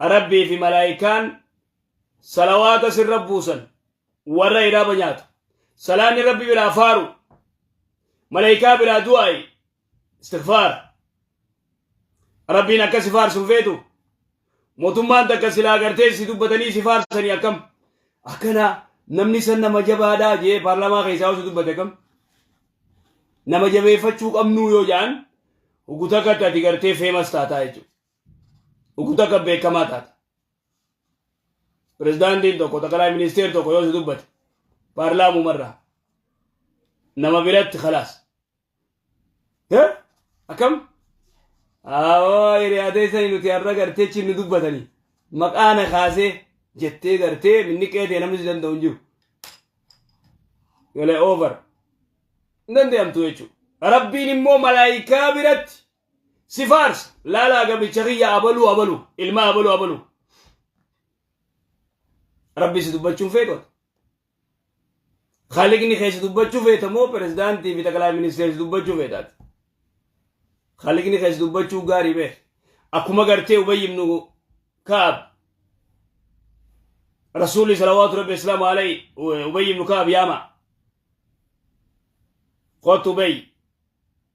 Rabbii fi malaayikaan salawaata sirra buusan warra iraaba nyaatu. Salaanni Rabbi biraa faaru. Malaayikaa biraa du'aayi. Istighfaar. Rabbiin akka si faarsu feetu. Mootummaan takka silaa gartee si dubbatanii si faarsanii akkam. Akkana namni san nama jabaadhaa jee paarlaamaa keessaa osoo dubbate akkam. Nama jabeeffachuu qabnuu yoo ja'an hoggu takkatti ati gartee feemas taataa jechuudha. Dhukkuta akka beekamaa taate. Pirezidaantiin tokko xaqalaa ministeer tokko yoo si dubbate paarlaamumarraa nama biratti khalaas. Akkam? Awoo hiriyaatee sanii nuti har'a gartee chinni dubbatanii maqaa na kaasee jettee gartee minni qeetee namni si danda'u hin jiru. Yolee over. Hin danda'amtu jechuudha. Rabbiin immoo malaayikaa biratti si faarsa laalaa gabricha kiyya abaluu abaluu ilmaa abaluu abaluu rabbi si dubbachuun feeqote khaliqni kee si dubbachuu feeta moo pirezidaantii fi xaqalaa ministeera si dubbachuu feetaati khaliqni kee si dubbachuu gaarii beek akkuma gartee ubayy ibnu kaab rasuulli salawaatu rabbi islaamu alayhi ubayy ibnu kaab yaama kootu ubayy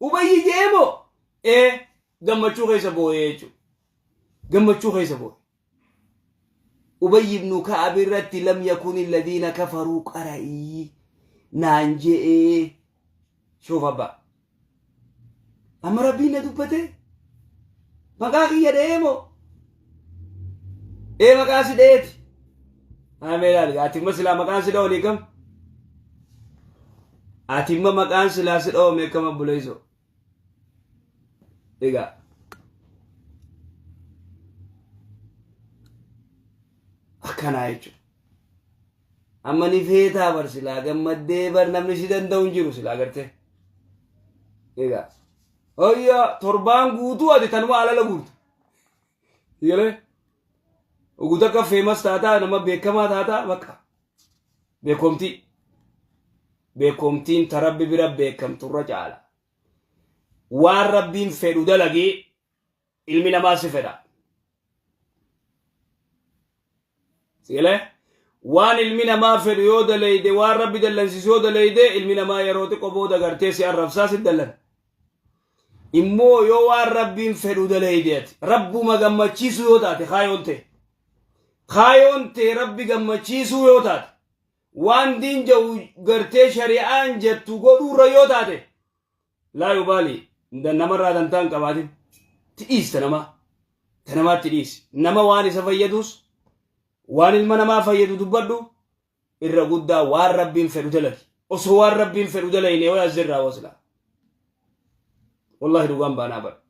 Ubayyi je'ee moo? Ee, gammachuu keessa booye jechuudha. Gammachuu keessa booye. Ubayyi ibnu Ka'ab irratti lam yakuni alladhiina kafaruu qara'ii naan je'ee shuuf abbaa. Amma rabbiin na dubbate maqaa kiyya dha'ee moo? Ee maqaa si dhayeeti. Amee ilaali ati imma silaa maqaan si dhawanii kam? Ati imma maqaan silaa si dhawamee kam abbuleeso? Egaa. Akkanaa jechuudha. Amma ni feetaa bar silaa gammaddee bar namni si danda'u hin jiru silaa gartee. Egaa. Hoyyaa torbaan guutuu ati tanuma alala guurta. Sigalee oguu takka feemas taataa nama beekamaa taataa bakka beekomtii beekomtiin ta rabbi bira beekamtu irra caala waan rabbiin fedhu dalagii ilmi namaa si fedha. Sigalee waan ilmi namaa fedhu yoo daleeyde waan rabbi dallansiisu yoo daleeyde ilmi namaa yeroo xiqqo booda gartee si arrabsaa si dallan. Immoo yoo waan rabbiin fedhu daleeyde ati rabbuma gammachiisuu yoo taate kaayoon tee. Kaayoon tee rabbi gammachiisuu yoo taate waan diin ja'u gartee shari'aan jettu godhuurra yoo taate Laa yubaali namarraa dantaa hin qabaatin tidhiista namaa ta namaatti dhiisi nama waan isa fayyaduus waan ilma namaa fayyadu dubbadhu irra guddaa waan rabbiin fedhu dalagi osoo waan rabbiin fedhu dalayne way as jirraa wasilaa wallahi dhugaan baanaa badha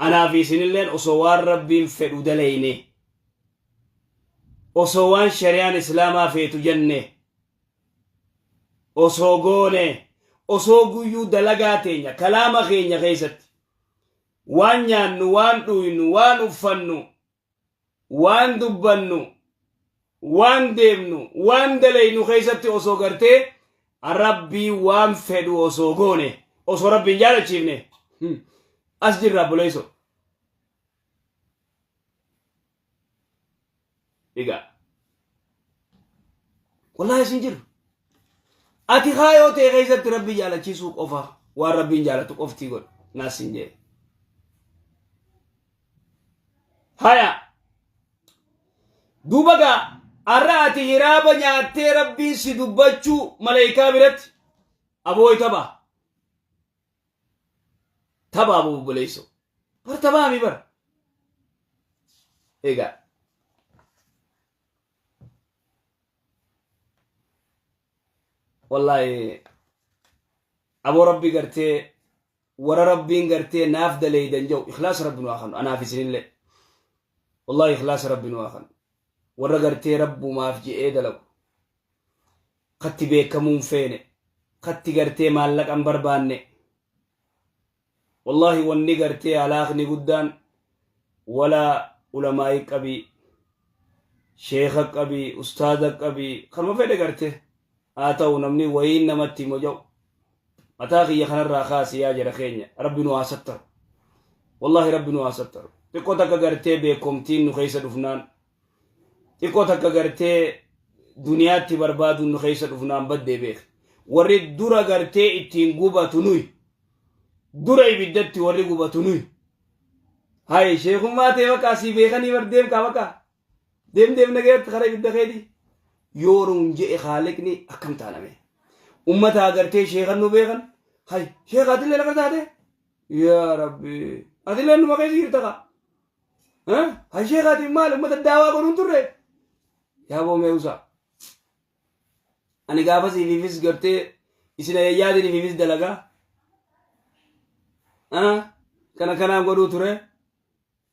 anaa fi isinilleen osoo waan rabbiin fedhu dalayne osoo waan shari'aan islaamaa feetu jenne osoo goone osoo guyyuu dalagaa teenya kalaama keenya keessatti waan nyaannu waan dhuynu waan uffannu waan dubbannu waan deemnu waan dalaynu keessatti osoo gartee rabbii waan fedhu osoo goone osoo rabbiin jaalachiifne as jirra buleeso Egaa wallahi isin jiru. Ati kaayoo ta'e keessatti rabbi jaalachiisuu qofa waan rabbiin jaalatu qoftii godhu naas hin jedhe. Haya duuba gaa har'a ati hiraaba nyaattee rabbiin si dubbachuu maleekaa biratti aboo itabaa. Tabaa moo obboleessoo? Bar tabaa mi bar? Egaa. Wallaahi aboo rabbi gartee warra rabbiin gartee naaf daleeydan jedhu ikhlaasa rabbi nu haa kennu anaaf isinillee. Wallahi ikhlaasa rabbi nu haa kanu warra gartee rabbumaaf je'ee dalagu katti beekamuu hin feene katti gartee maallaqa hin barbaanne wallahi wanni gartee halaakni guddaan wala ulamaa'i qabii sheekha qabii ustaaza qabii kanuma fedhe gartee haa ta'u namni wayiin namatti himo ja'u mataa kiyya kanarraa kaasi yaa jara keenya rabbi nu haa sattaru wallahi rabbi nu haa sattaru xiqqoo takka gartee beekomtiin nu keessa dhufnaan xiqqoo takka gartee duniyaatti barbaaduun nu keessa dhufnaan baddee beek warri dura gartee ittiin gubatu nuyi dura ibiddatti warri gubatu nuyi haye sheekummaa ta'e bakka asii beekanii bardeem kaa bakka Deem deem nagayatti kara ibidda keeti yoo nuun je'e khaaliqni akkam taana mee. Ummata agartee sheekan nu beekan hay sheeka atillee lafa taate yaa rabbi atillee numa keessa jirta ka. Hay sheeka ati maal ummata daawaa godhuun turre yaa boomee usaa. Ani gaafa siififis gartee isin ayyaadin ififis dalagaa. Kana kanaan godhuu ture.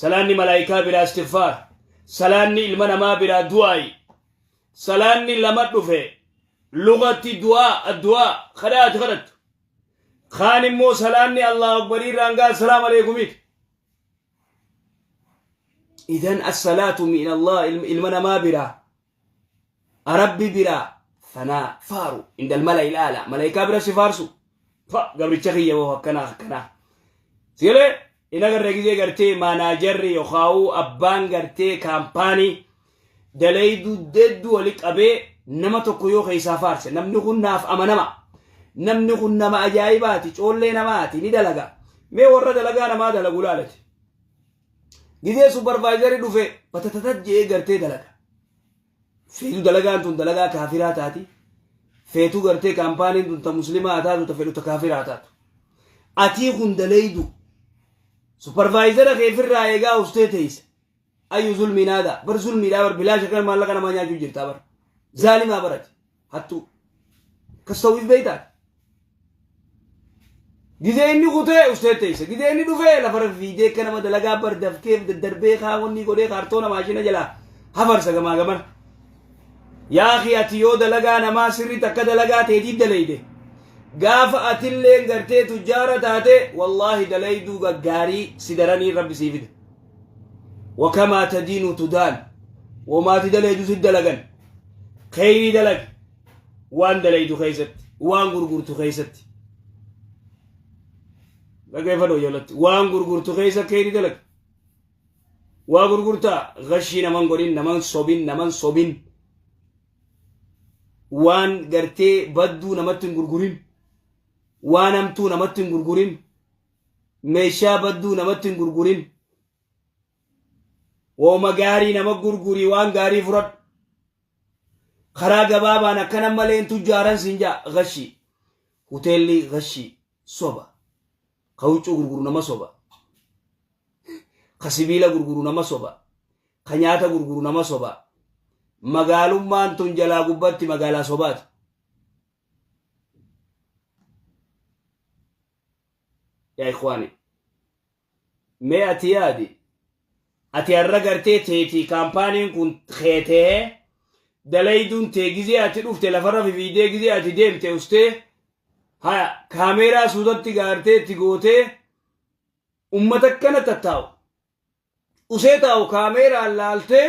Salaanni malaayikaa biraa istighfaar. Salaanni ilma namaa biraa du'aayi. Salaanni lama dhufe lugatti du'aa addu'aa kadhaa ati kadhattu. Kaan immoo salaanni Allahu Akbarii irraan gaa salaam aleekumiiti. Idan as-salaatu min Allah ilma namaa biraa Rabbi biraa fanaa faaru indal mala ilaala malaayikaa bira si faarsu fa gabricha kiyya woo akkanaa akkanaa sigalee hin agarre gizee gartee maanaajarri yookaawuu abbaan gartee kaampaanii dalayduu deedduu wali qabee nama tokko yoo keessaa faarse namni kun naaf amanama namni kun nama ajaa'ibaati coollee namaati ni dalaga mee warra dalagaa namaa dalagu laalati Gizee supervisorii dhufe batatatat je'ee gartee dalaga. Feetu dalagaan tun dalagaa kaafiraa taati. Feetu gartee kaampaaniin tun ta muslimaa haa taatu ta fedhu ta kaafiraa haa taatu. Atii kun dalaydu. Supervisora kee firraa eegaa ustee teeyse. Ayyu zulmiin aadaa. Bar zulmiidhaa bar bilaasha kan maallaqa namaa nyaachuu jirtaa bar. Zaalimaa barati. hattuu akkas ta'uuf beektaan gizee inni kutee ustee teessa gizee inni dhufee lafa rafiidee akka nama dalagaa bardafkeef daddarbee kaawwannii godhee kaartoona maashina jalaa hafarsa gamaa gamana yaaqii ati yoo dalagaa namaa sirriitti akka dalagaa teetii daleeyde gaafa atilleen gartee tujjaara taate wallaahi daleeyduu gaggaarii sidaranii rabbi sii fida wakamaa tadiinu tudaan womaati dalaydu si dalagan kheyrii dalag waan dalaydu keeysatti waan gurgurtu keeysatti dhaggeeffadhu ijoollatti waan gurgurtu keeysa kheyrii dalag waa gurgurtaa gashii naman godhin naman sobin naman sobin waan gartee badduu namatti hin gurgurin waan hamtuu namatti hin gurgurin Meeshaa badduu namatti hin gurgurin. Wooma gaarii nama gurgurii waan gaarii fudhadhu. Karaa gabaabaan akkana malee hin tujjaaran siin jaa gashii. Hoteelli gashii soba. Ka huccuu gurguru nama soba. Ka sibiila gurguru nama soba. Ka nyaata gurguru nama soba. Magaalummaan tun jalaa gubbatti magaalaa sobaati. yaa ikhwaani mee ati yaadi ati har'a gartee teetii kaampaaniin kun kee ta'ee dalayduun tee gizee ati dhufte lafarra fifiidee gizee ati deemte ustee haya kaameeraa suutatti gaartee itti gootee ummata akkana tattaa'u usee taa'u kaameeraan laaltee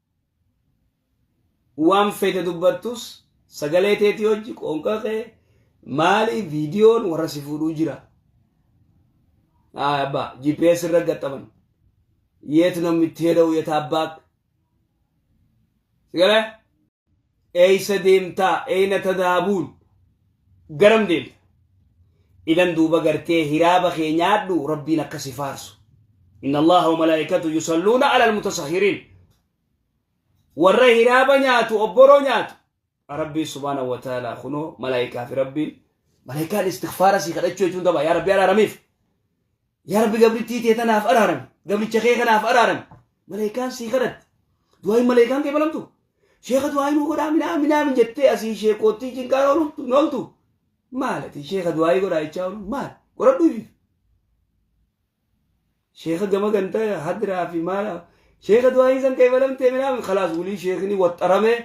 waan feete dubbattus sagalee teetii hojji qoonqa kee maali viidiyoon warra si fuudhuu jira. Ayi abbaa GPS irra gaxxaman yeet namni itti heda'u yeta abbaa sigale Eeysa deemtaa? Eeyna tadaabuun? Garam deemta? Idan duuba gartee hiraaba kee nyaadhu Rabbiin akka si faarsu. Inna Allaaha wa malaa'ikatahu yusalluuna alal mutasahhiriin. Warra hiraaba nyaatu, obboroo nyaatu. Rabbiin subhaanahu wa ta'aalaa kunoo malaa'ikaa fi Rabbiin malaa'ikaan istighfaara sii kadhachuu jechuun daba yaa Rabbi araaramiif. Yaa Rabbi gabrittii tee tanaaf araarami. Gabricha kee kanaaf araarami. Maleekaan sii kadhatti. Du'aayin maleekaan kee balamtu. Sheeka du'aayi nuu godhaa minaa minaa min jettee asii sheekoottii cinqaa ooltu nooltu. Maal ati sheeka du'aayi godhaa jechaa oolu maal qoradhu ifiif. Sheeka gama ganta hadiraa fi maal sheeka du'aayin san kee balamtee minaa min kalaas wulii sheekni waxxaramee.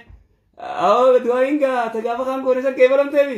Awwa du'aayin gaa tagaafa kaan goone san kee balamtee mi.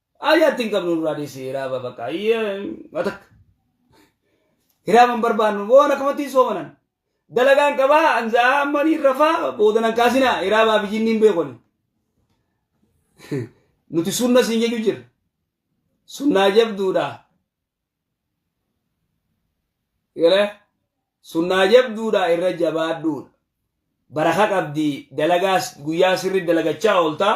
Ayyaa itti hin qabnu nurraa dhiisi hiraaba bakka ayyaa matak. Hiraaba hin barbaannu waan akkamatti hin soomanan. Dalagaan qabaa anzaa ammanii rafaa boodan hin kaasinaa hiraabaa fi jinniin beekoni. Nuti sunna siin jechuu jirra. Sunnaa jabduudha. Galee sunnaa jabduudha irra jabaadhuudha. Baraka qabdi dalagaa guyyaa sirri dalagachaa oolta.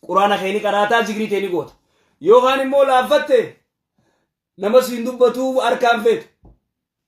Quraana kee ni qaraataa zikrii tee ni goota. Yookaan immoo laaffatte nama siin dubbatu harkaan feetu.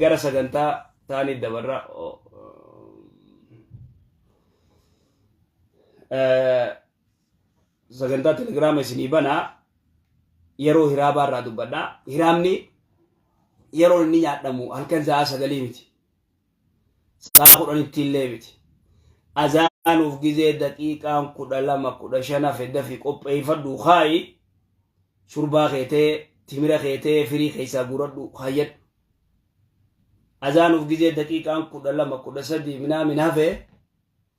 gara sagantaa taanii dabarra sagantaa telegiraama isinii banaa yeroo hiraabaa irraa dubbadha hiraamni yeroo inni nyaadhamu halkan sa'aa sagalii miti Saa kudhanitti illee miti. Azaanuuf gizee daqiiqaan kudha lama kudha shan hafe dafi qopheeyfadhu kaayi shurbaa kee ta'e timira kee ta'e firii keessaa guuradhu kaayyadhu. Azaanuuf gizee daqiiqaan kudha lama kudha sadii minaamin hafe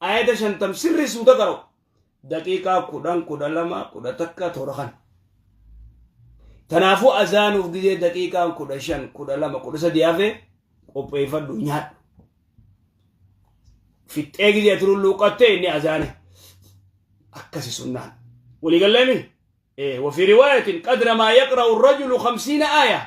Ayata shantam sirri suuta qara'u. Daqiiqaa kudhan kudha lama kudha takka toora kan. Kanaafuu azaanuuf gizee daqiiqaan kudha shan kudha lama kudha sadii hafe qopheeffadhu nyaadhu. Fixxee gizee ati lulluuqattee inni azaane. Akkasi sunnaan. Walii galleemi? Ee wafii riwaayatiin qadra maa yaqra'u rajulu khamsiina aayaa.